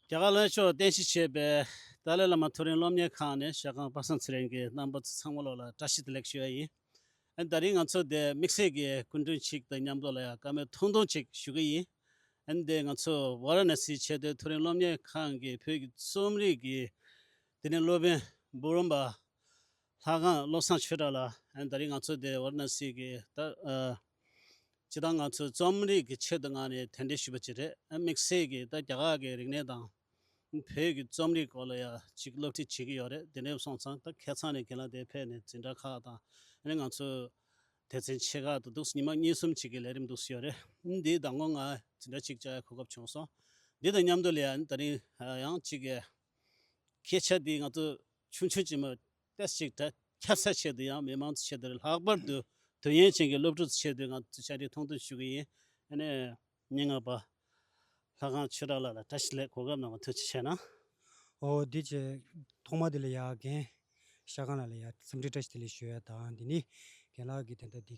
རྒྱ་གར་བློན་མཆོག་རྟེན་གཞི་བྱས་པའི་ཏཱ་ལའི་བླ་མ་ཐུ་རིན་སློབ་གཉེར་ཁང་ནི་ཤ་ཁང་པ་སངས་ཚེ་རིང་གི་རྣམ་པ་ཚང་མ་བློ་ལ་བཀྲ་ཤིས་བདེ་ལེགས་ཞུ་ཡ་ཡིན། ད་རིང་ང་ཚོ་དེ་དམིགས་བསལ་གྱིས་སྐུ་མགྲོན་ཞིག་དང་མཉམ་བློ་ལ་ཡང་བཀའ་མོལ་ཐུང་ཐུང་ཅིག་ཞུ་གི་ཡིན། འདི་ང་ཚོ་བྷ་ར་ནཱ་སིའི་ཆེས་མཐོའི་ཐུ་རིན་སློབ་གཉེར་ཁང་གི་བོད་ཀྱི་རྩོམ་རིག་གི་དེ་ནས་སློབ་དཔོན་འབུམ་རམས་པ་ལྷ་ཁང་བློ་བཟང་ཆོས་གྲགས་ལ་ད་རིང་ང་ཚོ་དེ་བྷ་ར་ནཱ་སི་གི་ཏཱ་སྤྱི་དང་ང་ཚོས་རྩོམ་རིག་གི་ཆེད་དུ་ངང་ནས་དེ་འདྲས་ཞུས་པ་ཅི་རེད་དམིགས་བསལ་གྱིས་ད་རྒྱ་གར་གྱི་རིག་གནས་དང། བོད་ཀྱི་རྩོམ་རིག་སྐོར་ལ་ཡང་ཅིག་སློབ་ཁྲིད་བྱེད་ཀྱི་ཡོད་རེད་དེ་འདྲས་སོང་ཙང་ད་ཁེ་ཚང་ནས་གྱེན་ལ་དེ་ཕེབས་ནས་འཛིན་གྲྭ་ཁག་དང་ནས་ང་ཚོ་དེ་ཚན་ཆེ་ཁག་ཏུ་འདུག་སྙི་མ་གཉིས་གསུམ་ཅིག་གི་ལས་རིམ་འདུག་ཡོད་རེད་འདིའི་ཟླ་ངོ་ང་འཛིན་གྲྭ་ཅིག་བཅར་གོ་སྐབས་བྱུང་སོང་འདི་དང་མཉམ་དུ་ལས་ཡང་ད་རིང་ཡང་ཅིག་གི་སྐད་ཆ་འདི་ང་ཚོ་ཆུང་ཆུང་ཅིག་མ། ཏེ་གཅིག་དང་ཁྱབ་ཚད་ཆེད་དུ་ཡང་མི་མང་ཚོའི་ཆེད་དུ་ལྷག་པར་དུ་དུས་ངན་ཅན་གྱི་སློབ་ཕྲུག་ཚོའི་ཆེད་དུ་ང་ཚོས་བཅར་འདྲི་ཐུང་ཐུང་ཞུ་གི་ཡིན། སྙན་ངག་པ་ལྷ་ཁང་ཆོས་གྲགས་ལགས་ལ་བཀྲ་ཤིས་ལེགས་གོ་སྐབས་གནང་བ་ཐུགས་རྗེ་ཆེ་གནང། ཨོ་འདི་ཆེ། ཐོག་མར་དེ་ལ་ཡག་གན་ཤ་ཁང་ལ་ལ་ཡག་འཚམས་འདྲི་བཀྲ་ཤིས་བདེ་ལེགས་ཞུ་ཡ་དང་དེ་ནི་གན་ལགས་ཀྱིས་དེ་ལྟར་འདི།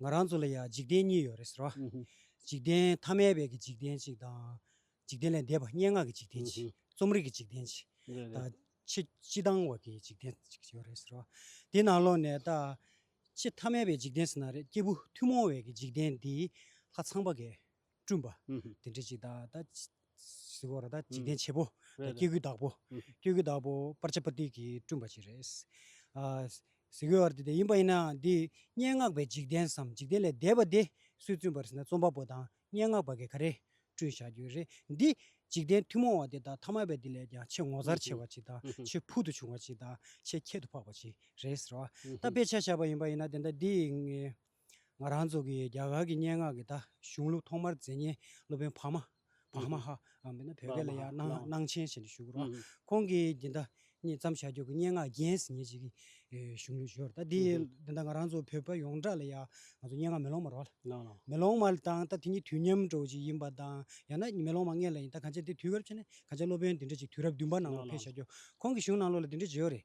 ང་རང་ཚོ་ལ་ཡང་འཇིག་རྟེན་གཉིས་ཡོད་རེད་ཟེར་བ། འཇིག་རྟེན་ཐ་མལ་བའི་གི་འཇིག་རྟེན་གཅིག་དང། འཇིག་རྟེན་ལས་འདས་པ་སྙན་ངག་གི་འཇིག་རྟེན་གཅིག་རྩོམ་རིག་གི་འཇིག་རྟེན་གཅིག་དང། ཕྱི་སྤྱི་དང་བར་གྱི་འཇིག་རྟེན་གཅིག་ཡོད་རེད་ཟེར་བ། དེ་ནང་ལོགས་ནས་ད་ཅི་ཐ་མལ་བའི་འཇིག་རྟེན་ཟེར་ན་རེད་སྐྱེས་བུ་ཐུན་མོང་བའི་གི་འཇིག་རྟེན་འདིའི་ལྷ་ཚངས་པ་འགས། བསྐྲུན་པ། དེ་འདྲའི་འཇིག་ལྟ་དང། གཟི་བོ་ར་དང་འཇིག་རྟེན་བྱེད་པོ། སྐྱེ་དགུའི་བདག་པོ། སྐྱེ་དགུའི་བདག་པོ་སྤར་ཆ་པ་ཏི་གིས་བསྐྲུན་པ་ཞིག་རེད། གཟི་བོའི་བར་དེ་དེ་ཡིན་པ་ཡིན་ནའང་འདིས་སྙན་ངག་པའི་འཇིག་རྟེན་སམ་འཇིག་རྟེན་ལས་འདས་པ་དེ་སུས་བཙུན་པར་ཟེར་ན་རྩོམ་པ་པོ་དང་སྙན་ངག་པ་གས་ག་རེས་བསྐྲུན་བཞག་རྒྱུ་རེད། འདི་འཇིག་རྟེན་ཐུན་མོང་བ་དེ་དག་ཐ་མལ་པའི་དེ་ལས་ཀྱང་ཆེས་ངོ་མཚར་ཆེ་བ་ཅིག་དང་ཆེས་ཕུལ་དུ་བྱུང་བ་ཅིག་དང་ཆེས་ཁྱད་དུ་འཕགས་པ་ཅིག་རེད་ཟེར་བ། ད་དཔེ་ཆ་བཞག་པ་ཡིན་པ་ཡིན་ན་དེ་ལྟ་འདིས། ང་རང་ཚོ་གིས་རྒྱ་གར་གྱི་སྙན་ངག་གི་ད་གཞུང་ལུགས་ཐོག་མར་མཛེས་ཉེན་སློབ་དཔོན་བྷ་མ། Bhamaha། འམ་བོད་སྐད་ལ་ཡང་སྣང་ཆེན་ཞེས་འབྲི་ཞུ་གི་རོགས། ཁོང་གིས་འདི་ད་ཉིད་བརྩམས་བཞག་རྒྱུ་གི་སྙན་ངག་རྒྱན་ཟེར་ཉེན་ཞིག་གི་གཞུང་ལུགས་ཞུ་རོགས། ད་འདི་འདི་ད་ང་རང་ཚོ་བོད་པ་ཡོངས་གྲགས་ལ་ཡང་ང་ཚོ་སྙན་ངག་མེ་ལོང་མ་རོགས། མེ་ལོང་མ་དང་ད་དེ་གཉིས་དུས་མཉམ་འགྲོ་བ་ཞིག་ཡིན་པ་དང་ཡང་ན་མེ་ལོང་མ་ངེད་ལ་ཡིན་ད་གང་ཆེ་དེ་དུས་སྐབས་ཕྱེ་ནས་གང་ཆེ་སློབ་དཔོན་འདི་འདྲ་ཞིག་དུས་རབས་བདུན་པ་ནང་ལོགས་ཕེབས་བཞག་རྒྱུ་ཁོང་གི་གཞུང་ནང་ལོགས་ལ་འདི་འདྲ་བརྗོད་ཡོད་རེད།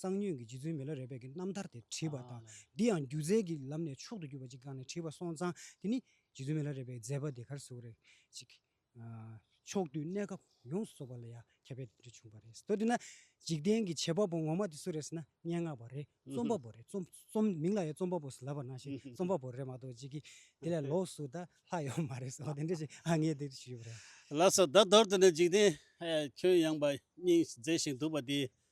གཙང་སྨྱོན་གྱི་རྗེ་བཙུན་མི་ལ་རས་པད་ཀྱི་རྣམ་ཐར་དེ་བྲིས་པ་དང། འདི་ཡང་སྒྱུ་རྩལ་གྱི་ལམ་ནས་མཆོག་ཏུ་གྱུར་པ་ཅིག་བཀག་ནས་བྲིས་པ་སོང་ཙང་དེ་ནི་རྗེ་བཙུན་མི་ལ་རས་པའི་མཛད་པ་དེ་གར་ཟུག་རེག་ཅིག། ཕྱོགས་དུས་གནས་སྐབས་ཡོངས་སུ་རྫོགས་པ་ལ་ཡང་ཁྱད་པའི་དོན་བྱུང་བ་རེད། ད་དེ་ན་འཇིག་རྟེན་གྱི་བྱེད་པ་པོ་ངོ་མ་དེ་སུ་རེད་ཟེར་ན་སྙན་ངག་པ་རེད་རྩོམ་པ་པོ་རེད་རྩོམ་མིང་ལ་ཡང་རྩོམ་པ་པོ་ཟེར་ལབ་པར་སྣང་ཞིང་རྩོམ་པ་པོ་རེད་མ་གཏོགས་ཅིག་གིས་དེ་ལས་ལོགས་སུ་ད་ལྷག་ཡོད་མ་རེད་ཟེར་བ་དེ་འདྲ་ཞིག་ང་ངས་དེ་ལྟར་ཞུས་པ་རེད། ལགས་སོ་ད་དོར་དུ་ནི་འཇིག་རྟེན་ཁྱོན་ཡངས་པ་སྙིང་བརྩེ་ཞིང་སྡུག་པ་དེའི་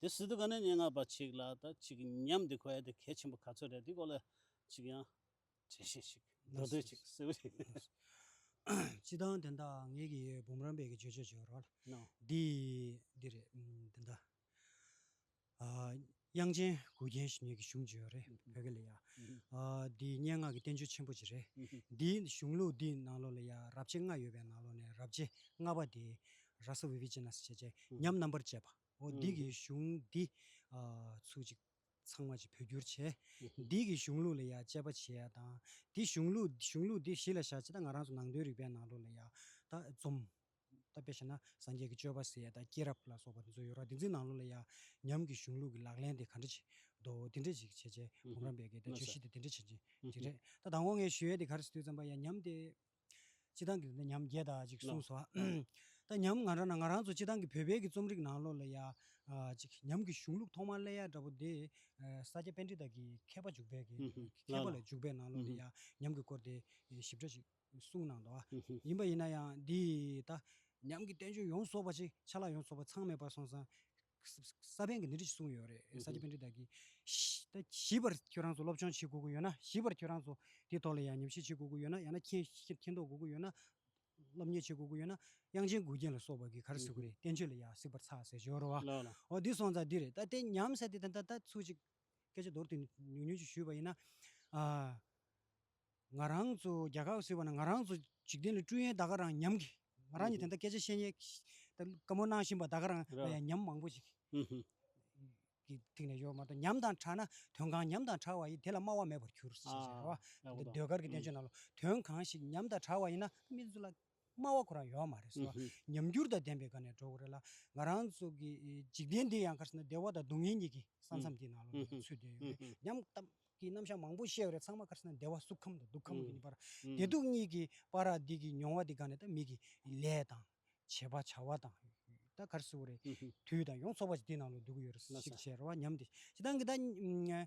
དེ་སྲིད་དུ་ག་ནས་སྙན་ངག་པ་ཅིག་ལ་ད་ཅིག་ཉམས་འདི་ཁོ་ཡ་དེ་གལ་ཆེན་པོ་ག་ཚོད་རེད་འདི་སྐོར་ལ་ཅིག་ཡང་དྲི་ཞིག་ཞིག་འདོན་འདོད་ཅིག་གསལ་བོ་རེད། སྤྱི་བཏང་དེ་འདྲ་ངེད་ཀྱི་འབུམ་རམས་པའི་བརྗོད་བྱ་བྱོས་རོགས། འདི་འདི་རེད་འདི་འདྲ། དབྱངས་ཅན་གུ་རྒྱན་ཞིག་ངེད་ཀྱི་གཞུང་བརྗོད་རེད་བོད་སྐད་ལ་ཡ། འདི་སྙན་ངག་གི་བསྟན་བཅོས་ཆེན་པོ་ཅིག་རེད། འདིའི་གཞུང་ལུགས་འདིའི་ནང་ལོགས་ལ་ཡ་རབས་བྱེད་ལྔ་ཡོད་པའི་ནང་ལོགས་ནས་རབས་བྱེད་ལྔ་པ་དེ་ར་ས་བྷི་བྷི་ཇི་ན་སི་བྱེད་བཅས་མཉམ་རྣམ་པར་སྤྱད་པའོ། འདི་གའི་གཞུང་འདི་ཚུལ་གཅིག་ཚང་མ་གཅིག་བོད་བསྒྱུར་བྱས། འདི་གའི་གཞུང་ལུགས་ལ་ཡང་དཔྱད་པ་བྱས་ཡ་དང། འདི་གཞུང་ལུགས་འདི་གཞུང་ལུགས་འདི་གཞི་ལ་བཞག་ཅེས་ད་ང་རང་ཚོ་ནང་དོན་རིག་པའི་ནང་ལུགས་ལ་ཡང་ད་འཛོམས། ད་དཔེ་བྱས་ན་སངས་རྒྱས་ཀྱི་སྤྱོད་པ་ཟེར་ཡ་དང་སྐྱེས་རབས་ལ་སོགས་པ་འདི་ཚོ་ཡོད་ར་འདི་ཚོའི་ནང་ལུགས་ལ་ཡང་ཉམས་ཀྱི་གཞུང་ལུགས་ཀྱི་ལག་ལེན་དེ་ག་འདྲ་བྱེད་དོ་འདི་འདྲ་ཅིག་བྱས་བྱས་བུམ་རམ་པས་ཀྱི་ད་བརྗོད་གཞི་དེ་འདི་འདྲ་བྱེད་ཅིག་རེད། ད་དང་བོ་ངས་ཞུ་ཡ་དེ་ག་རེ་ཟེར་དུས་ཙམ་པ་ཡང་ཉམས་དེ། སྤྱི་བཏང་གི་ཉམས་བརྒྱད་དང་ཅིག་གསུངས་སོ། ད་ཉམས་ང་རང་ན་ང་རང་ཚོ་སྤྱི་བཏང་གི་བོད་དཔལ་གྱི་རྩོམ་རིག་ནང་ལོ་ལ་ཡ། ཅིག་ཉམས་ཀྱི་གཞུང་ལུགས་ཐོག་མར་གླེང་ཡ་འདྲ་པོ་དེ། ས་སྐྱ་དཔལ་འབྲི་དག་གིས་མཁས་པ་འཇུག་པའི་གི་མཁས་པ་ལ་འཇུག་པའི་ནང་ལོ་ལ་ཡ་ཉམས་ཀྱི་སྐོར་དེ་ཞིབ་ཕྲ་ཞིག་གསུངས་གནང་འདུག་ཨ། ཡིན་པ་ཡིན་ན་ཡང་འདིས་ད། ཉམས་ཀྱི་བསྟན་བཅོས་ཡོངས་རྫོགས་པ་ཅིག་ཆ་ལག་ཡོངས་རྫོགས་པ་ཚང་མེད་པར་སོང་ཙང། ས་པན་གྱི་སྣེ་ཁྲིད་ཅིག་གསུངས་ཡོད་རེད་ས་ཆ་པན་ཁྲིད་བདག་གིས། ད་ཞིབ་པར་ཁྱོད་རང་ཚོ་སློབ་སྦྱོང་བྱེད་དགོས་ཀྱི་ཡོད་ན་ཞིབ་པར་ཁྱོད་རང་ཚོ་དེའི་ཐོག་ལ་ཡང་ཉམས་ཞིབ་བྱེད་དགོས་ཀྱི་ཡོད་ན་ཡང་ན་མཁྱེན་མཁྱེན་མཁྱེན་རྟོགས་དགོས་ཀྱི་ཡོད་ན། སློབ་གཉེར་བྱེད་དགོས་ཀྱི་ཡོད་ན་དབྱངས་ཅན་མགུལ་རྒྱན་ལ་སོགས་པ་གིས་གར་གཟིགས་ཀྱི་རེད་བསྟན་བཅོས་ལ་ཡང་གཟིགས་པར་ཚར་ཟེར་ཞོར་རོ་ཨོ་འདི་སོང་ཙང་འདི་རེད་ད་དེ་ཉམས་ཟེར་དེ་ད་ད་ད་ཚུགས་ཅིག་སྐད་ཆ་མདོར་བསྡུས་ནས་ཉུང་ཉུང་ཅིག་ཞུས་པ་ཡིན་ན། ང་རང་ཚོ་རྒྱལ་ཁ་བཟོས་པ་ན་ང་རང་ཚོ་འཇིག་རྟེན་ལ་སྤྲུལ་ཡན་ད་ག་རང་ཉམས་ཀྱི། ང་རང་ཉིད་དེ་འདྲ་སྐད་ཆ་བཤད་ཉན་དཀའ་མོ་གནང་བཞིན་པ་ད་ག་རང་ཉམས་མང་པོ་ཞིག་གི་ཐིག་ནས་ཡོད་མ་གཏོགས་ཉམས་དང་དྲག་ན་དོན་གང་ཉམས་དང་དྲག་བ་ཡིན་དེ་ལ་སྨྲ་བ་མེད་པར་གྱུར། ཟེར་བ་ཟློས་གར་གྱི་བསྟན་བཅོས་རྣམས་ལ་དོན་གང་ཞིག་ཉམས་དང་དྲག་བ་ཡིན་ན་སྨྲེ་སྔགས་སྨྲ་བ་ཁོ་རང་ཡོད་མ་རེད་ཟེར་བ་ཉམས་འགྱུར་དང་ལྡན་པའི་སྒང་ནས་འགྲོ་གི་རེད་ལ། ང་རང་ཚོ་གི་འཇིག་རྟེན་འདི་ཡང་ཁར་སོང་ན་བདེ་བ་དང་སྡུག་བསྔལ་གཉིས་ཀྱི་ས་མཚམས་ཀྱི་ནང་ལོགས་ནས་ཚུད་བསྡད་ཡོད་རེད་སྙམ། གཏམ་གྱི་རྣམ་གཞག་མང་པོ་བཤད་ཡོད་རེད་ཚང་མ་ཁར་སོང་ན་བདེ་བ་སུ་ཁམས་དང་སྡུག་ཁམས་ཀྱི་བར་བདེ་སྡུག་གཉིས་ཀྱི་བར་ར་འདི་གི་མྱོང་བ་འདི་སྒང་ནས་ད་མིག་གི་ལས་དང། བྱེད་པ་བྱ་བ་དང། ད་ཁར་སོང་རེད་དུས་དང་ཡོངས་རྫོགས་པ་ཞིག་འདི་ནང་ལོགས་འདུག་གི་ཡོད་རེད་ཟེར་བ་ཉམས་ཏེ་ཇི་ལྟར་འགི་ད།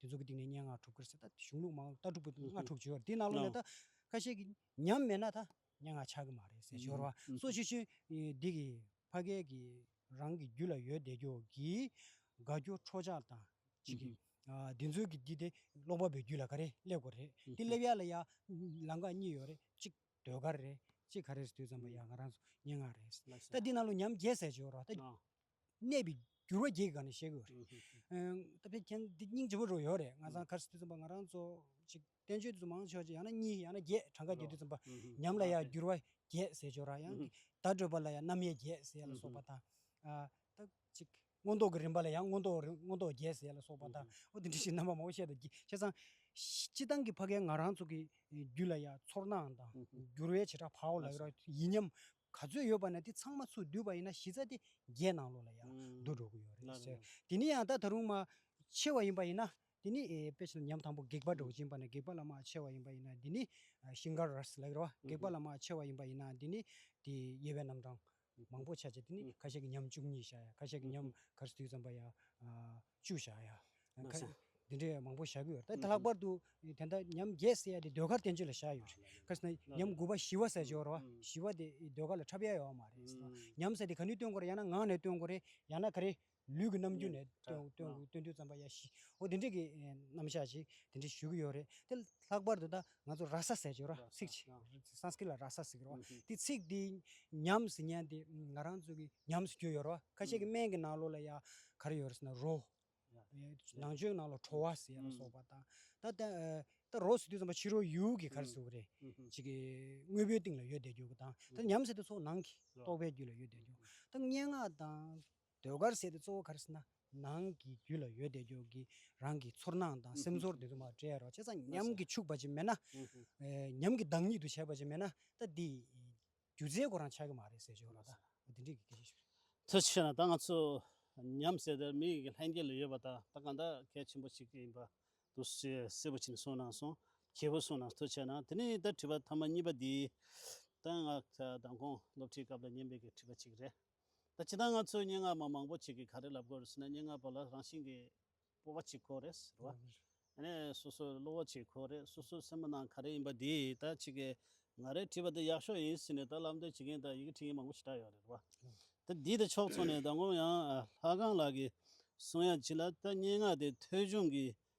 དེ་ཚོ་གི་སྟེང་ནས་སྙན་ངག་གྲུབ་ཁར་ཟད་ད་གཞུང་ལུགས་མ་ལུགས་ལྟ་གྲུབ་ཀྱི་སྔ་དྲུག་བརྗོད་དེ་ནང་ལོགས་ནས་ད་ཁ་ཤས་ཀྱི་ཉམས་མེད་ན་ད་སྙན་ངག་ཆགས་ཀྱི་མ་རེད་ཟེར་ཞོར་བ་སོ་ཆུ་ཆུན་འདི་གི་ཕ་སྐད་ཀྱི་རང་གི་རྒྱུད་ལ་ཡོད་བསྡད་ཀྱོག་གི་དགའ་སྐྱོ་ཁྲོ་ཆགས་དང་གཅིག་གི། འདི་ཚོའི་གི་འདི་དེ་ཀློག་པ་པོའི་རྒྱུད་ལ་ག་རེ་སླེབས་དགོས་རེད་འདི་སླེབས་ཡག་ལ་ཡ་ལང་ཀ་གཉིས་ཡོད་རེད་གཅིག་ཟློས་གར་རེད་གཅིག་ག་རེ་རེད་ཟློས་ཙམ་པ་ཡ་ང་རང་ཚོ་སྙན་ངག་རེད་ཟེར་ད་འདི་ནང་ལོགས་ཉམས་བརྒྱས་ཟེར་ཞོར་བ་ད། གནས་པའི་འགྱུར་བ་བརྒྱད་ཀྱི་སྒང་ནས་བཤད་དགོས་རེད། ད་ཕན་འདི་སྙིང་རྗེ་བོ་རུ་ཡོད་རེད་ང་ཚང་ཁར་སི་ཏུ་རྩོམ་པ་ང་རང་ཚོ་ཅིག་བསྟན་བཅོས་དུ་མང་ཆོག་ཅིག་ཡང་ན་གཉིས་ཡང་ན་བརྒྱད་གྲངས་ཀ་བརྒྱད་དུ་རྩོམ་པ་ཉམས་ལ་ཡང་འགྱུར་བ་བརྒྱད་ཟེར་ཆོག་ར་ཡང་བརྡ་སྤྲོད་པ་ལ་ཡང་རྣམ་དབྱེ་བརྒྱད་ཟེར་ལ་སོགས་པ་དང། ད་ཅིག་མངོན་རྟོགས་ཀྱི་རིམ་པ་ལ་ཡང་མངོན་རྟོགས་མངོན་རྟོགས་བརྒྱད་ཟེར་ལ་སོགས་པ་དང་འོ་དེ་འདྲ་ཞིག་རྣམ་པ་མང་པོ་བཤད་དོ། བྱས་ཙང་སྤྱི་བཏང་གི་ཕ་སྐད་ང་རང་ཚོ་གི་རྒྱུད་ལ་ཡང་ཚོར་སྣང་དང་འགྱུར་བའི་བྱེ་བྲག་བག་ལ་ཡོད་ར་ཡིན་སྙམ། ག་ཚོད་ཡོད་པ་ན་དེ་ཚང་མ་ཚུར་བསྡུས་པ་ཡིན་ན་གཞི་རྩ་དེ་རྒྱའི་ནང་ལོགས་ལ་ཡང་བསྡུ་འགྲོ་གི་ཡོད་རེད་ཟེར། དེ་ནས་ཡང་ད་ད་རུང་མ་ཕྱེ་བ་ཡིན་པ་ཡིན་ན་དེ་ནི་དཔེ་ཆ་ཉམས་དང་པོ་སྒེག་པ་སྒྲོག་ཅན་པ་ན་སྒེག་པ་ལ་མ་ཕྱེ་བ་ཡིན་པ་ཡིན་ན་དེ་ནི་ཤིང་གར་ར་སི་ལ་ཡོད་རེད་བ་སྒེག་པ་ལ་མ་ཕྱེ་བ་ཡིན་པ་ཡིན་ན་དེ་ནི་དེ་དབྱེ་བའི་རྣམ་གྲངས་མང་པོ་ཆགས་ཆེ་དེ་ནི་ཁ་ཤས་ཀྱི་ཉམས་བཅུ་གཉིས་ཤ་ཡ་ཁ་ཤས་ཀྱི་ཉམས་གར་སི་ཐུའི་ཙམ་པ་ཡ། བཅུ་བཞག་ཡ། འདི་འདྲའི་མང་པོ་བཞག་གི་ཡོད་རེད། ལྷག་པར་དུ་དེ་འདྲ་ཉམས་བརྒྱད་བསྲེ་ཡ་དེ་ཟློས་གར་བསྟན་བཅོས་ལ་བཞག་ཡོད་རེད། གལ་སྲིད་ན་ཉམས་དགུ་པ་བཞི་བ་ཟེར་ཞོར་བཞི་བ་དེ་ཟློས་གར་ལ་འཁྲབ་ཡ་ཡོད་པ་མ་རེད་བསམ། ཉམས་བསྲེ་དེ་ག་ནུས་སྟོན་དགོས་རེད་ཡང་ན་ངག་ནས་སྟོན་དགོས་རེད་ཡང་ན་ག་རེ་ལུས་ཀྱི་རྣམ་འགྱུར་ནས་སྟོན་དུས་བརྩམས་པ་ཡ་བཞི་འོ་དེ་འདྲའི་གི་རྣམ་བཞག་ཅིག་དེ་འདྲ་ཞུ་གི་ཡོད་རེད། དེ་ལྷག་པར་དུ་ད་ང་ཚོ་ར་ས་ཟེར་ཆོག་ར་ཚིག་ཆེ Sanskrit ལ་ར་ས་ཟེར་རོ། དེ་ཚིག་དེ་ཉམས་སུ་ཉན་ཏེ་ང་རང་ཚོ་གི་ཉམས་སུ་གྱུར་ཡོད་རོ། ཁ་ཤས་ཀྱི་སྨན་གྱི་ནང་ལོགས་ལ་ཡང་ག་རེ་ཡོད་རེད་ཟེར་ན་རོ། ནང་ཆོས་ནང་ལོགས་ཁྲོ་བ་ཟེར་ལ་སོགས་པ་དང། ད་རོ་ཟེར་དུས་ཙམ་པ་ཕྱི་རོལ་ཡུལ་གྱི་ག་རེ་ཟེར་བ་རེད། ཅིག་གི་དངོས་པོའི་སྟེང་ལ་ཡོད་བསྡད་རྒྱུ་གི་དང། ད་ཉམས་ཟེར་དུས་ཚོགས་ནང་གི་རྟོག་པའི་རྒྱུད་ལ་ཡོད་བསྡད་རྒྱུ། ད་སྙན་ངག་དང། ཟློས་གར་ཟེར་ཏེ་གཙོ་བོ་གར་སྣ་ནང་གི་རྒྱུད་ལ་ཡོད་དེ་ཀྱོ་གི་རང་གི་ཚོར་སྣང་དང་སེམས་ཚོར་དེ་ཚོ་མ་བྲལ་རོགས་བྱས་ཙང་ཉམས་ཀྱིས་ཕྱུག་པ་ཅིག་མེད་ན། ཉམས་ཀྱིས་བདག་ཉིད་དུ་བྱས་པ་ཅིག་མེད་ན་ད་འདི་སྒྱུ་རྩལ་གོ་རང་ཆགས་ཀྱི་མ་རེད་ཟེར་ཆོག་ལ་ད་འདི་འདྲས་ཀྱི་སྐད་ཆ་ཞིག་རེད། ཐུགས་རྗེ་ཆེ་ན་ད་ང་ཚོ་ཉམས་ཟེར་དེར་མི་ཡི་ལྷན་སྐྱེས་ལ་ཡོད་པ་དང་ད་གང་འདྲ་གལ་ཆེན་པོ་ཞིག་ཡིན་པ་འདུག་ཞེས་གསལ་པོ་བྱིན་གསུངས་གནང་སོང་གྱིས་བུ་གསུངས་གནང་ཐུགས་ཆེ་ན་དེ་ནི་ད་དྲི་བ་ཐ་མ་གཉིས་པ་འདི་ད་ང་ད་དང་གོང་སློབ་ཁྲིད་སྐབས་ལ་ཉན་པའི་གི་དྲི་བ་ཅིག་རེད། ད་ཇི་ལྟར་ང་ཚོས་སྙན་ངག་མ་མང་པོ་ཅིག་གིས་ག་རེ་ལབ་དགོས་རེད་ཟེར་ན་སྙན་ངག་པ་ལ་རང་བཞིན་གྱིས་སྤོབས་པ་ཅིག་དགོས་རེད་ཟེར་བ། ཡང་ན་སོ་སོའི་བློ་བོ་ཅིག་དགོས་རེད་སོ་སོའི་སེམས་པ་ནང་ག་རེ་ཡིན་པ་འདི་ད་ཅིག་གིས་ང་རེ་བྲིས་པ་འདི་ཡག་ཤོས་ཡིན་ཟེར་ནས་ད་ལབ་འདོད་བྱེད་མཁན་ད་ཡི་གེ་འཁྲིད་མཁན་མང་པོ་ཞིག་གྲགས་ཡོད་རེད་བ། ད་འདི་ད་ཕྱོགས་ཚོགས་ནས་ད་ངོམ་ཡང་ལྷ་ཁང་ལགས་ཀྱིས་གསུང་ཡ་ཅིག་ལ་ད་སྙན་ངག་དེ་ཐོལ་བྱུང་གིས་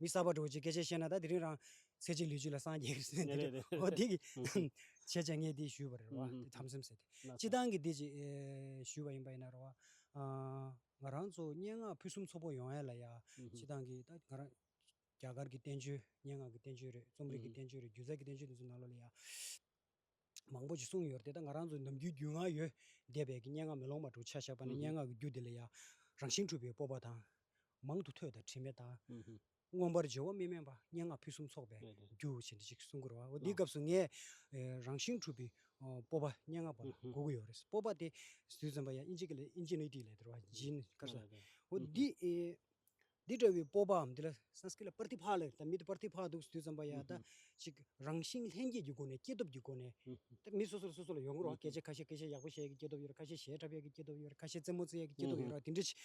མི་གསར་པ་འགྲོ་ཅིག་སྐད་ཆ་བཤད་ན་ད་དེ་རིང་རང་ཚེ་གཅིག་ལུས་གཅིག་ལ་སངས་རྒྱས་ཟེར་ནས་དེ་འདྲའི་འོ་དེ་གི་བྱས་རྗེས་ངས་འདི་ཞུས་པ་རེད་རེད་བ་དེ་དམ་སེམས་ཟེར་ཏེ་སྤྱི་བཏང་གི་འདི་ཅིག་ཞུས་པ་ཡིན་པ་ཡིན་ན་རེད་བ། ང་རང་ཚོ་སྙན་ངག་ཕུན་སུམ་ཚོགས་པོ་ཡོང་ཡ་ལ་ཡ་སྤྱི་བཏང་གི་ད་ང་རང་རྒྱ་གར་གི་བསྟན་བཅོས་སྙན་ངག་གི་བསྟན་བཅོས་རེད་རྩོམ་རིག་གི་བསྟན་བཅོས་རེད་སྒྱུ་རྩལ་གྱི་བསྟན་བཅོས་འདི་ཚོ་ནང་ལོགས་ལ་ཡ། མང་པོ་ཞིག་གསུངས་ཡོད་དེ་དག་ང་རང་ཚོ་ནམ་རྒྱུན་རྒྱུས་མངའ་ཡོད་བསྡད་པའི་སྙན་ངག་མེ་ལོང་མ་གྲུ་ཆ་བཞག་པ་ནི་སྙན་ངག་གི་རྒྱུ་དེ་ལས་ཡང་རང་བཞིན་འཁྲུལ་པའི་སྤོབས་པ་དང། མང་དུ་ཐོས་དང་དྲི་མེད་དང། མངོན་པར་འཇལ་བ་མི་དམན་པ་སྙན་ངག་ཕུན་སུམ་ཚོགས་པའི་རྒྱུ་ཞེས་འདི་གཅིག་གསུང་གི་རེད་བ་འདིའི་སྐབས་སུ་ངས་རང་བཞིན་འཁྲུལ་པའི་སྤོབས་པ་སྙན་ངག་པ་ལ་གོ་གི་ཡོད་རེད་སྤོབས་པ་དེ་ཟུར་ཙམ་པ་ཡང་ཨིན་ཇི་ཨིན་ཇི་ནི་ཏི་ལས་དེར་བ་ཇི་ནི་ཀར་ས་འོ་འདི་འདི་འདྲ་བའི་སྤོབས་པའམ་འདི་ལ Sanskrit ལ Pratibha ལ་དང་མི་དེ Pratibha འདུག་དུས་ཙམ་པ་ཡང་དག་ཅིག་རང་བཞིན་ལྷན་སྐྱེས་ཀྱི་སྒོ་ནས་སྐྱེས་སྟོབས་ཀྱི་སྒོ་ནས་དེ་མི་སོ་སོར་སོ་སོ་ལ་ཡོང་གི་རོགས་སྐད་ཆ་ཁ་ཤས་སྐད་ཆ་ཡག་པོ་བཤད་ཡ་གི་སྐྱེས་སྟོབས་ཡོད་རེད་ཁ་ཤས་ཞལ་འཁྲབ་ཡ་གི་སྐྱེས་སྟོབས་ཡོད་རེད་ཁ་ཤས་རྩེད་མོ་རྩེ་ཡ་གི་སྐྱེས་སྟོབས་ཡོད་རེད་དེ་འདྲ་ཅིག་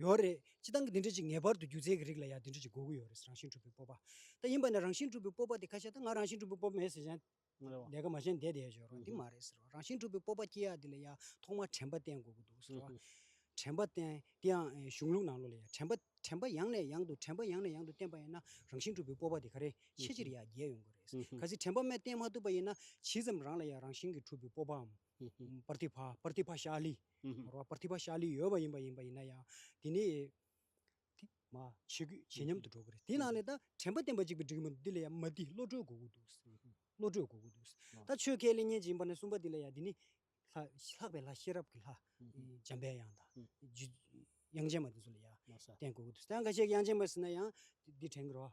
ཡོད་རེད་སྤྱི་བཏང་གི་འདི་འདྲ་ཅིག་ངེས་པར་དུ་སྒྱུ་རྩལ་གྱི་རིགས་ལ་ཡང་འདི་འདྲ་ཅིག་དགོས་ཀྱི་ཡོད་རེད་རང་བཞིན་གྲུབ་པའི་སྤོབས་པ་ད་ཡིན་པ་ནི་རང་བཞིན་གྲུབ་པའི་སྤོབས་པ་དེ་ཁ་ཤས་ད་ང་རང་བཞིན་གྲུབ་པའི་སྤོབས་པ་མེད་ཟེར་ཡང་ལས་ཀ་མ་བྱས་ནས་བསྡད་བསྡད་བྱོས་རོགས་འདི་མ་རེད་ཟེར་རོ། རང་བཞིན་གྲུབ་པའི་སྤོབས་པ་སྐྱེ་ཡག་འདི་ལ་ཡང་ཐོག་མར་དྲན་པ་བསྟེན་དགོས་ཀྱི་འདུག་ཟེར་རོ། དྲན་པ་བསྟེན་དེ་ཡང་གཞུང་ལུགས་ནང་ལོགས་ལ་ཡང་དྲན་པ་དྲན་པ་ཡང་ནས་ཡང་དུ་དྲན་པ་ཡང་ནས་ཡང་དུ་བསྟེན་པ་ཡིན་ན་རང་བཞིན་གྲུབ་པའི་སྤོབས་པ་དེ་ག་རེ་ཆེ་ཆེར་ཡང་རྒྱས་ཡོང་གི་རེད། གལ་སྲིད་དྲན་པ་རྨད་བསྟེན་མ་ཐུབ་པ་ཡིན་ན་ཇི་ཙམ་རང་ལ་ཡང་རང་བཞིན་གྱིས་གྲུབ་པའི་སྤོབས་པའམ། Pratibha Pratibha Shali། མོར་བ Pratibha Shali ཡོད་པ་ཡིན་པ་ཡིན་པ་ཡིན་ན་ཡང་དེ་ནི་དེ་མ་བྱེད་ཁུལ་བྱེད་སྙམ་དུ་འགྲོ་གི་རེད་དེའི་ནང་ནས་ད་དྲན་པ་བསྟན་པ་གཅིག་པུ་འགྲིག་གི་མི་འདུག་འདི་ལ་ཡང་མ་འདི་བློ་གྲོས་དགོས་ཀྱི་འདུག་བློ་གྲོས་དགོས་ཀྱི་འདུག་ད་ཆོས་ཁས་ལེན་ཉན་ཅིག་ཡིན་པ་ནས་གསུངས་པ་འདི་ལ་ཡང་འདི་ནི། ལྷག་པའི་ལྷ་ཤེས་རབ་ཀྱི་ལྷ། འཇམ་པའི་དབྱངས་དང། དབྱངས་ཅན་མ་དེ་ཚོ་ལ་ཡང་བསྟན་དགོས་ཀྱི་འདུག་ད་འགའ་ཤས་ཀྱིས་དབྱངས་ཅན་མ་ཟེར་ན་ཡང་འདི་དྲན་གི་རེད།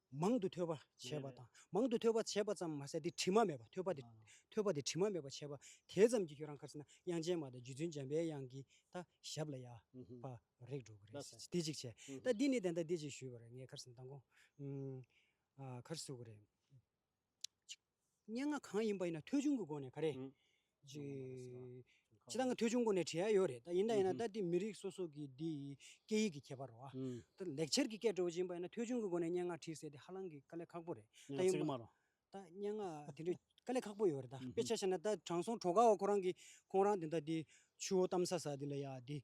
མང་དུ་ཐོས་པ་བྱས་པ་དང། མང་དུ་ཐོས་པ་བྱས་པ་ཙམ་མ་ཟད་དེ་དྲི་མ་མེད་པ་ཐོས་པ་ཐོས་པ་དེ་དྲི་མ་མེད་པ་བྱས་པ་དེ་ཙམ་གྱིས་ཁྱོད་རང་གར་སེམས་ན་དབྱངས་ཅན་མ་དང་རྗེ་བཙུན་འཇམ་པའི་དབྱངས་ཀྱི་ད་ཞབས་ལ་ཡབ་བ་རེག་འགྲོ་གི་རེད་དེ་གཅིག་བྱས། ད་འདི་ནས་དེ་ལྟར་འདི་གཅིག་ཞུས་པ་རེད་ངས་ཁར་སེམས་མདང་དགོང། ཁར་བསུ་གི་རེད། སྙན་ངག་གང་ཡིན་པ་ཡིན་ན་ཐོལ་བྱུང་གི་སྒོ་ནས་ག་རེ། ཇི་ལྟར་ང་ཐོལ་བྱུང་སྒོ་ནས་བྲིས་ཡ་ཡོད་རེད་ད་ཡིན་ད་ཡིན་ན་ད་དེ་མི་རིགས་སོ་སོ་གི་དེ་ཡི་སྐད་ཡིག་གི་ཁྱད་པར་རོ། ད་ལེགས་འཆར་གྱི་སྐད་བྲོ་བོ་ཅན་པ་ཡིན་ན་ཐོལ་བྱུང་གི་སྒོ་ནས་སྙན་ངག་བྲིས་ཟེར་དེ་ཧ་ལང་གི་དཀའ་ལས་ཁག་པོ་རེད། སྙན་ངག་ཚིག་དམར་རོ། ད་སྙན་ངག་དེ་འདྲའི་དཀའ་ལས་ཁག་པོ་ཡོད་རེད་ད་དཔེ་ཆ་བྱས་ན་ད་དྲང་སྲོང་གྲོག་ཀའོ་ཁོ་རང་གིས་ཁོང་རང་དེ་ད་དེ་ཆུ་བོ་གཏམ་ས་ས་དེ་ལ་ཡ་དེ་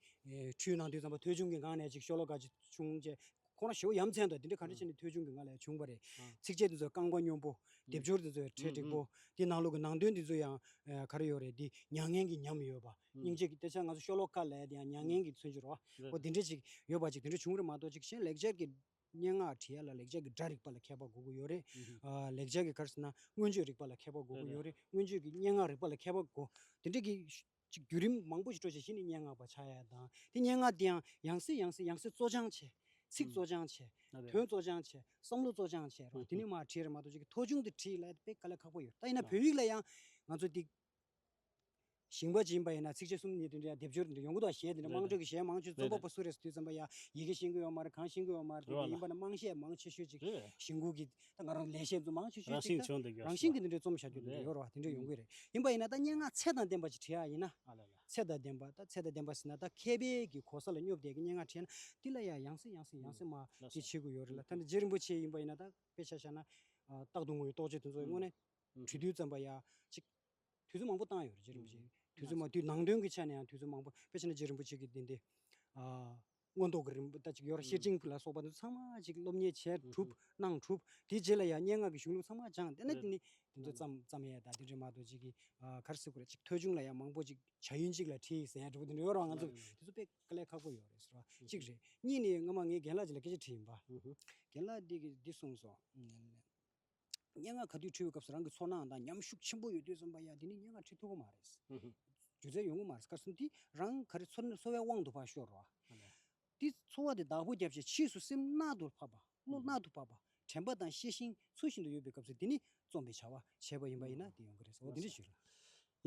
ཁྲུས་ནང་དུས་ཙམ་པ་ཐོལ་བྱུང་གི་སྒང་ནས་ཅིག་ཤོ་ལོ་ཀ་ཅིག་བྱུང་བཅས་ཁོང་རང་ཞོའུ་ཡམ་ཚན་དང་དེ་འདྲའི་ག་འདྲ་བྱས་ནས་ཐོལ་བྱུང་གི་ང་ལ་ཡང་བྱུང་བ་རེད། ཚིགས་བཅད་འདི་ཚོ་རྐང་པ་སྙོམས་པོ། སྡེབ་སྦྱོར་འདི་ཚོ་ཁྲེལ་འགྲིག་པོ། དེའི་ནང་ལུགས་ཀྱི་ནང་དོན་འདི་ཚོ་ཡང་ག་རེ་ཡོད་རེད་འདི་མྱ་ངན་གྱི་ཉམས་ཡོད་པ། སྙིང་རྗེ་གི་སྟེ་ཆ་ང་ཚོ་ཤོ་ལོ་ཀ་ལས་དེའང་མྱ་ངན་གྱི་མཚོན་གྱི་རོ། ཨོ་དེ་འདྲ་ཅིག་ཡོད་པ་ཅིག་དེ་འདྲ་བྱུང་རེད་མ་གཏོགས་ཅིག་གཞན་ལེགས་སྦྱར་གྱི་སྙན་ངག་བྲིས་ཡ་ལ་ལེགས་སྦྱར་གྱི་སྒྲ་རིག་པ་ལ་མཁས་པ་དགོས་ཀྱི་ཡོད་རེད། ལེགས་སྦྱར་གྱི་གར་ཟེར་ན་མངོན་བརྗོད་རིག་པ་ལ་མཁས་པ་དགོས་ཀྱི་ཡོད་རེད་མངོན་བརྗོད་ཀྱི་སྙན་ངག་རིག་པ་ལ་མཁས་པ་དགོས། དེ་འདྲ་གི། ཅིག་བརྒྱུད་རིམ་མང་པོ་ཞིག་སྤྲོ་བྱེད་བཞི་ནི་སྙན་ངག་པ་ཕྱག་ཡས་དང། དེ་སྙན་ངག་འདིའང་ཡང་སྲིད་ཡང་སྲིད་ཡང་སྲིད་བཙོ་སྦྱང་བྱས། ཚིག་བཙོ་སྦྱང་བྱས། དོན་བཙོ་སྦྱང་བྱས། བསམ་བློ་བཙོ་སྦྱང་བྱས་རུང་དེ་ནས་མ་བྲིས་རེད་མ་གཏོགས་ཅིག་མཐོ་ཆུང་དུ་བྲིས་ལད་པས་དཀའ་ལས་ཁག་པོ་ཡོད་ད་ཡིན་ན་བོད་ཡིག་ལ་ཡང་ང་ཚོ་འདི་ཞིང་པ་ཅིག་ཡིན་པ་ཡིན་ན་ཚིགས་བཅད་གསུམ་གཉིས་དོན་འདི་ཡང་སྡེབ་སྦྱོར་འདི་ཡོང་གི་འདུག་གཞས་འདི་འདྲ་དམངས་ཁྲོད་ཀྱི་གཞས་མང་ཆོས་རྩོམ་པ་པོ་སུ་རེད་ཟེར་དུས་ཙམ་པ་ཡང་ཡི་གེ་ཤེས་ཀྱི་ཡོད་མ་རེད་གང་ཤེས་ཀྱི་ཡོད་མ་རེད་དེ་འདྲ་ཡིན་པ་ན་དམངས་གཞས་མང་ཆེ་ཤོས་ཅིག་ཞིང་ཁུལ་གྱི་ད་ང་རང་ལས་བྱེད་རྫུན་མང་ཆུ་ཆུ་ཅིག་ད་རང་བཞིན་གྱི་འདི་འདྲའི་རྩོམ་བྱ་རྒྱུ་འདི་འདྲ་ཡོད་རེད་བ་དེ་འདྲ་ཡོང་གི་རེད་ཡིན་པ་ཡིན་ན་ད་སྙན་ངག་ཚད་དང་ལྡན་པ་ཅིག་བྲིས་ཡ་ཡིན་ན་ཚད་དང་ལྡན་པ་ད་ཚད་དང་ལྡན་པ་ཟིན་ན་ད་མཁས་པའི་གི་གོ་ས་ལ་སྙོབ་བསྡད་ཀྱི་སྙན་ངག་བྲིས་ཡ་ན་འདི་ལ་ཡང་ཡང་སྲིད་ཡང་སྲིད་ཡང་སྲིད་མ་ཅིག་བྱེད་དགོས་ཡོད་རེད་ལ་ད་འདི་རྗེ་རིན་པོ་ཆེ་ཡིན་པ་ཡིན་ན་ད་དཔེ་ཆ་བཞག་ན་རྟག་ཏུ་ངོ་ཡི་རྟོགས་བྱེད་དེ་ཚོ་དངོས་གནས་བྲི་དུས་ཙམ་པ་ཡ་ཅིག་དུས་ཚོད་མང་པོ་བཏང་ཡོད་རེད་རྗེ་རིན་པོ་ཆེ་དུས་ཚོད་མང་དུས་ནང་དོན་གྱི་ཆ་ནས་ཡང་དུས་ཚོད་མང་པོ་དཔེ་ཆ་ན་རྗེ་རིན་པོ་ཆེ་གི་འདི་འདི་མངོན་རྟོགས་ཀྱི་རིམ་པ་གཅིག་ཡོར་ཤེར་ཕྱིན་ལ་སོགས་པ་འདི་ཚང་མ་གཅིག་སློབ་གཉེར་བྱས་གྲུབ་གནང་གྲུབ་དེའི་རྗེས་ལ་ཡང་སྙན་ངག་གི་གཞུང་ལུགས་ཚང་མ་སྦྱངས་དེ་ནས་དེ་ནི་དེ་ཚོ་ཙམ་ཙམ་ཡས་དང་དེ་འདྲའི་མ་གཏོགས་ཅིག་གིས་གར་སི་ཁུ་ར་གཅིག་ཐོལ་བྱུང་ལ་ཡང་མང་པོ་ཅིག་བྱ་ཡུན་གཅིག་ལ་ཁྲིད་ཟེར་ཡ་འདྲ་པོ་དེ་འདྲ་ཡོད་རང་ང་ཚོ་དེ་ཚོ་དཔེ་ཀ་ལས་ཁག་པོ་ཡོད་རེད་ཟེར་བ་གཅིག་རེད་གཉིས་ནི་སྔོན་མ་ངས་རྒན་ལགས་ཅིག་ལ་སྐད་ཆ་དྲིས་ཡིན་པ་རྒན་ལགས་འདི་གིས་འདི་གསུངས་སོང། སྙན་ངག་ག་དུས་བྲི་བའི་སྐབས་སུ་རང་གི་ཚོར་སྣང་དང་ཉམས་ཤུགས་ཆེན་པོ་ཡོད་དུས་རྩོམ་པ་ཡ་འདི་ནི་སྙན་ངག་བྲི་ཐུབ་ཀྱི་མ་རེད། སྒྱུ་རྩལ་ཡོང་གི་མ་རེད་སྐབས་སུ་འདི་རང་ག་རེ་ཚོར་ཚོར་བའི་དབང་དུ་བར་ཤོར་བ། འདི་ཚོར་བ་དེ་བདག་པོ་བརྒྱབ་ཅིང་ཕྱིས་སུ་སེམས་རྣལ་དུ་ཕབ་པ། བློ་རྣལ་དུ་ཕབ་པ། དྲན་པ་དང་ཤེས་ཤིང་ཚུལ་བཞིན་དུ་ཡོད་པའི་སྐབས་སུ་འདི་ནི་རྩོམ་པའི་བྱ་བ་བྱས་པ་ཡིན་པ་ཡིན་ན་དེ་ཡོང་གི་རེད་ཟེར་བ་འདི་འདྲ་ཞིག་རེད།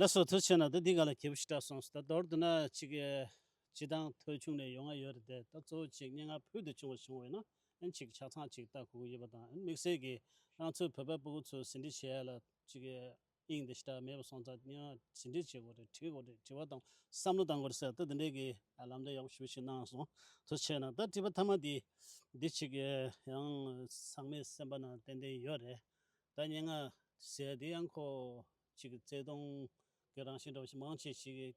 ལ་སོགས་དུ་བྱས་ན་ད་འདི་ག་ལ་གྱེས་པོ་ཞིག་གྲགས་སོང་ཟེར་ད་མདོར་བསྡུ་ན་གཅིག་གིས་སྤྱི་བཏང་ཐོལ་བྱུང་ནས་ཡོང་ང་ཡོད་རེད་དེ་ད་གཙོ་བོ་གཅིག་སྙན་ངག་ཕུལ་དུ་བྱུང་བ་བྱུང་བས་ན་ཨིན་གཅིག་ཆ་ཚང་གཅིག་ལྟ་ཁུག་ཡོད་པ་དང་དམིགས་བསལ་གྱིས་རང་ཚོའི་བོད་པ་སྤུན་དགུ་ཚོས་ཟིན་བྲིས་བྱས་ཡ་ལ་གཅིག་གིས་དབྱིངས་འདི་ཞེ་དྲག་མེད་པ་སོང་ཙང་ཡང་ཟིན་བྲིས་བྱེད་དགོས་རེད་བྲིས་དགོས་རེད་བྲི་བ་དང་བསམ་བློ་གཏང་དགོས་རེད་ཟེར་ད་དེ་འདྲའི་གི་ལམ་འདྲ་ཡག་པོ་ཞུ་བ་ཞིག་གནང་སོང་དུ་བྱས་ན་ད་བྲིས་པ་ཐ་མ་འདི་འདི་གཅིག་གི་ཡང་ཚང་མའི་སེམས་པ་ན་ཏན་ཏན་ཡོད་རེད་ད་སྙན་ངག་ཟེར་དེ་ཡང་ཁོ་གཅིག་གི་བརྩེ་དུང་གི་རང་བཞིན་འདྲ་བ་ཞིག་མང་ཆེ་ཞིག་གིས་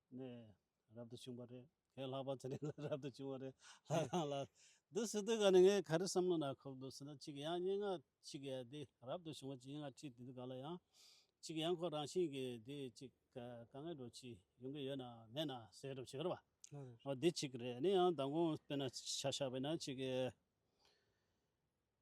ནས་རབ་ཏུ་བྱུང་བ་རེད། ཁོའི་ལྷག་པར་ཚེ་རིང་ལ་རབ་ཏུ་བྱུང་བ་རེད། ལྷ་ཁང་ལ། འདི་སི་ཏུ་ག་ནི་ངས་ག་རེ་བསམ་བློ་ན་ཁོག་འདུག་ཟེར་ན་གཅིག་ཡང་སྙན་ངག་གཅིག་གིས་དེ་རབ་ཏུ་བྱུང་བ་གཅིག་སྙན་ངག་ཁྲིད་དེ་དུས་ག་ལ་ཡང། གཅིག་ཡང་ཁོ་རང་བཞིན་གྱིས་དེ་གཅིག་ག་ངས་འགྲོ་གཅིག་ཡོང་གི་ཡོད་ན་མེད་ན་ཟེར་རོ་བྱེད་ཀ་ར་བ། འོ་འདི་གཅིག་རེད་ནི་ཡང་མདང་དགོང་དཔེ་ན་ཆ་ཤ་བས་ན་གཅིག་གིས།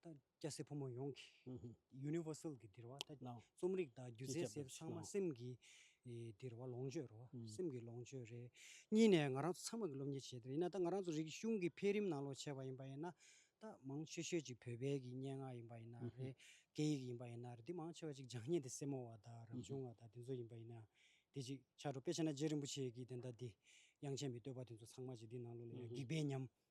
ད་སྐྱ་སེར་ཕོ་མོ་ཡོངས་ཀྱི Universal གི་འདིར་བ་ད་རྩོམ་རིག་དང་སྒྱུ་རྩལ་ཟེར་ཚང་མ་སེམས་ཀྱི་འདིར་བ་ལོངས་སྤྱོད་རེད་བ་སེམས་ཀྱི་ལོངས་སྤྱོད་རེད། གཉིས་ནས་ང་རང་ཚོ་ཚང་མ་གི་སློབ་གཉེར་བྱེད་འདིར་ཡིན་ན་ད་ང་རང་ཚོ་རིག་གཞུང་གི་འཕེལ་རིམ་ནང་ལོགས་བྱས་པ་ཡིན་པ་ཡིན་ན་ད་མང་ཤོས་ཤོས་ཅིག་བོད་པའི་གི་སྙན་ངག་ཡིན་པ་ཡིན་ན་རེད་སྐད་ཡིག་ཡིན་པ་ཡིན་ན་རེད་འདི་མང་ཆེ་བ་ཅིག་སྦྱང་ཉན་དེ་སེར་མོ་བ་དང་རབ་བྱུང་བ་དང་དེ་ཚོ་ཡིན་པ་ཡིན་ན་དེ་ཅིག་ཆ་འགྲོ་དཔེ་ཆ་ན་རྗེ་རིན་པོ་ཆེ་གི་དེ་ཟླ་འདི་དབྱངས་ཅན་པའི་བསྟོད་པ་དེ་ཚོ་ཚང་མ་ཅིག་འདི་ནང་ལོགས་ལ་ཡོད་འགྱིག་པའི་ཉམས།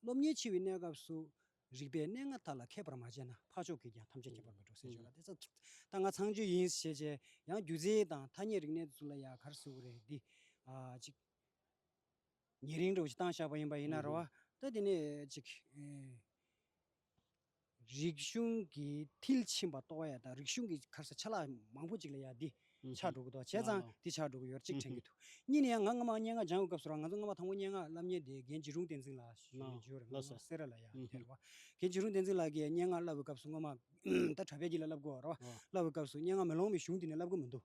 སློབ་གཉེར་བྱེད་པའི་གནས་སྐབས་སུ། རིག་པའི་གནས་ལྔ་དག་ལ་མཁས་པར་མ་བྱས་ན་འཕགས་མཆོག་གིས་ཀྱང་ཐམས་ཅད་མཁྱེན་པར་མི་འགྲོ་ཟེར་བྱུང་ལ་དེ་ཚོ་ད་ང་ཚང་ཆོས་ཡིན་ཞེས་བྱས་ཡང་སྒྱུ་རྩལ་དང་ཐ་སྙད་རིག་གནས་སུ་ལ་ཡ་གར་ཟེར་བ་རེད་འདི། ཅིག། ཉེ་རིང་འགྲོ་བཞིན་བཏང་བཞག་པ་ཡིན་པ་ཡིན་ན་རེ་བ་ད་དེ་ནས་ཅིག། རིག་གཞུང་གི་མཐིལ་ཕྱིན་པ་རྟོགས་ཡ་དང་རིག་གཞུང་གི་ཁར་ས་ཆ་ལག་མང་པོ་ཅིག་ལ་ཡ་འདི་ཆགས་འགྲོ་གི་འདུག་བྱས་ཙང་འདི་ཆགས་འགྲོ་གི་ཡོད་རེད་གཅིག་དྲན་གི་འདུག་གཉིས་ནི་ཡང་ང་སྔ་མ་སྙན་ངག་སྦྱང་བའི་སྐབས་སུ་རང་ང་ཚོ་སྔ་མ་དང་པོ་སྙན་ངག་བསླབ་ཉེ་དེ་རྒན་འཇིགས་རུང་བསྟན་འཛིན་ལགས་ཞེས་ཡོད་རེད་འཇུར་ངོ་སེར་ར་ལ་ཡ་དེ་རེད་བ། རྒན་འཇིགས་རུང་བསྟན་འཛིན་ལགས་ཀྱིས་སྙན་ངག་བསླབ་བའི་སྐབས་སུ་སྔོན་མ་ད་དྲ་བས་ཀྱི་ལ་བསླབ་དགོས་བ་རེད་བ། བསླབ་བའི་སྐབས་སུ་སྙན་ངག་མེ་ལོང་བའི་གཞུང་དེ་ནས་བསླབ་དགོས་མི་འདུག།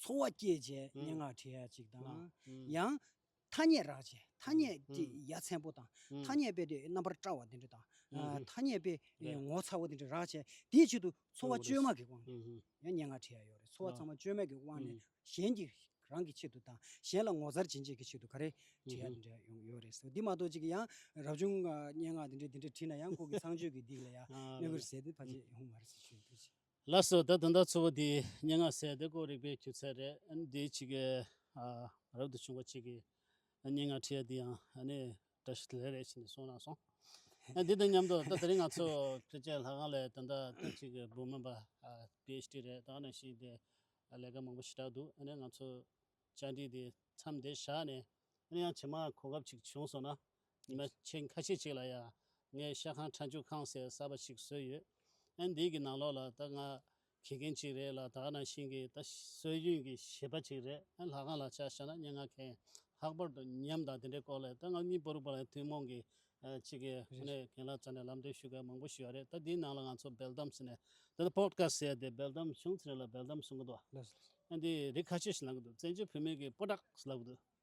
ཚོར་བ་སྐྱེད་བྱའི་སྙན་ངག་བྲིས་ཡ་ཅིག་དང། ཡང། ཐ་སྙད་རག་བྱའི་ཐ་སྙད་བྲིས་ཡ་ཚན་པོ་དང། ཐ་སྙད་དཔེ་དེ་རྣམ་པར་བཀྲ་བ་དེ་འདྲ་དང། ཐ་སྙད་དཔེ་ངོ་མཚར་བོ་དེ་འདྲ་རག་བྱས་དེའི་ཆེད་དུ་ཚོར་བ་བཅོས་མ་གི་དབང་ནས་ཡང་སྙན་ངག་བྲིས་ཡ་ཡོད་རེད་ཚོར་བ་ཚང་མ་བཅོས་མའི་གི་དབང་ནས་གཞན་གྱི་རང་གི་ཆེད་དུ་དང་གཞན་ལ་ངོ་མཚར་བྱིན་ཆེད་ཀྱི་ཆེད་དུ་ག་རེ་བྲིས་ཡ་དེ་འདྲ་ཡོང་གི་ཡོད་རེད་ཟེར་བ་འདི་མ་གཏོགས་ཅིག་ཡང་རབ་བྱུང་སྙན་ངག་དེ་འདྲ་དེ་འདྲ་བྲིས་ན་ཡང་ཁོང་གི་ཚངས་སྤྱོད་ཀྱི་སྡིག་ལ་ཡང་གནོད་གི་རེད་ཟེར་ཏེ་ཕ་ཆེ་ཧུ་མར་སི་ཞོན་ཕེ་ཆི། ལགས་སོ་ད་དོན་དག་ཚོ་བོ་དེའི་སྙན་ངག་གསལ་དེ་ཀོ་རིག་པའི་སྐྱུར་ཚལ་རེད་ཨ་ནི་དེའི་ཕྱི་གའི་རབ་ཏུ་བྱུང་བ་ཅིག་གིས་སྙན་ངག་བྲིས་ཡ་དེ་ཡང་ཨ་ནི་བཀྲ་ཤིས་ལེ་རེད་ཅེས་ནས་གསུངས་རང་སོང་ཨ་དེ་དང་མཉམ་དུ་ད་དེ་རིང་ང་ཚོ་བོད་ཆས་ལྷ་ཁང་ལས་དོན་དག་ཐེངས་གཅིག་གི་འབུམ་མོན་པ PHD རེད་དག་ནས་ཤིག་དེ་ལས་ཀ་མང་པོ་ཞེ་དྲག་འདུག་ཨ་ནི་ང་ཚོ་བཅར་འདྲི་དེ་མཚམས་འདིར་བཞག་ནས་ཨ་ནི་ཡང་ཇེ་མང་གོ་སྐབས་ཅིག་བྱུང་སོང་ན་ཉི་མ་ཕྱེད་ཁ་ཕྱེད་ཅིག་ལ་ཡང་ངས་ཤ་ཁང་ཁྲ་འཇུ་ཁང་ཟེར་ས་པ་ཞིག་བཟོས་ཡོད། ཨན་འདི་གི་ནང་ལོགས་ལ་ད་ང་གྱེས་མཁན་ཅིག་རེད་ལ་དག་ན་ཤིང་གི་ད་སྲོལ་རྒྱུན་གྱི་བྱེད་པ་ཅིག་རེད་ཨན་ལྷ་ཁང་ལ་ཆ་བཞག་ན་སྙན་ངག་མཁན་ལྷག་པར་དུ་ཉམས་དང་དེ་འདྲའི་སྐོར་ལས་ད་ང་གཉིས་པོར་པོ་ལ་ཐུན་མོང་གི་གཅིག་གི་ཧུ་ནས་གན་ལ་རྩ་ནས་ལམ་སྟོན་ཞུ་སྐལ་མང་པོ་ཞུ་ཡ་རེད་ད་འདིའི་ནང་ལ་ང་ཚོ་སྦེལ་དམ་ཟེར་ནས་ད་ལྟ་པོད་ཀ་ཟེར་དེ་སྦེལ་དམ་བྱུང་ཚེ་རིང་ལ་སྦེལ་དམ་གསུང་གི་འདུག་ཨན་འདི་རིགས་ཁ་ཆེ་ཞིག་ལངས་གི་འདུག་བཙན་བྱོལ་བོད་མི་གི་པོ་ཏག་ལབ་གི་འདུག།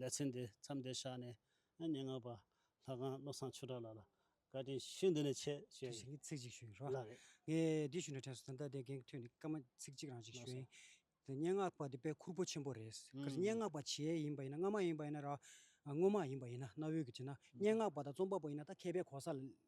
ལེ་ཚན་དེ་མཚམས་འདིར་བཞག་ནས། སྙན་ངག་པ་ལྷ་ཁང་བློ་བཟང་ཆོས་གྲགས་ལགས་ལ་བཀའ་དྲིན་ཞུ་འདི་ནས་ཆེ་ཞེས་ཞུ། ཚིག་གཅིག་ཞུ་རོགས། ལགས་རེད། ངས་འདི་ཞུ་ནས་དྲན་སོང་ད་ལྟ་དེ་གན་གི་ཐོས་ནས་སྐར་མ་ཚིག་གཅིག་རང་ཞིག་ཞུ་ཡིན། དེ་སྙན་ངག་པ་དེ་དཔེ་ཁུར་པོ་ཆེན་པོ་རེད། གལ་སྲིད་སྙན་ངག་པ་བྱེས་ཡིན་པ་ཡིན་ན་སྔ་མ་ཡིན་པ་ཡིན་ན་ར། སྔོན་མ་ཡིན་པ་ཡིན་ན་གནའ་བོའི་གི་བྱེས་ན་སྙན་ངག་པ་དང་རྩོམ་པ་པོ་ཡིན་ན་ད་མཁས་པའི་གོ་ས་ལ།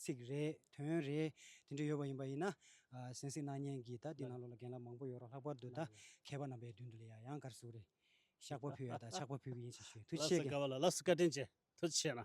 ཚིག་རེ། དོན་རེ། དེ་འདྲ་ཡོད་པ་ཡིན་པ་ཡིན་ན། གཟན་ཟིག་སྣ་བརྙན་གྱིས་ད་དེ་ནང་ལོགས་ལ་རྒན་ལགས་མང་པོ་ཡོད་རོགས་ལྷག་པར་དུ་ད་མཁས་པ་རྣམ་པའི་མདུན་དུ་ལས་ཡག་ཡང་གར་ཟུག་རེ། ཤག་པ་ཕུལ་ཡ་ད་ཆག་པ་ཕུལ་གི་ཡིན་ཞེས་ཞུ་མཐུ་ཆེ་གི། ལ་ལ་སི་བཀའ་དྲིན་ཆེ་མཐུ་ཆེ་ན།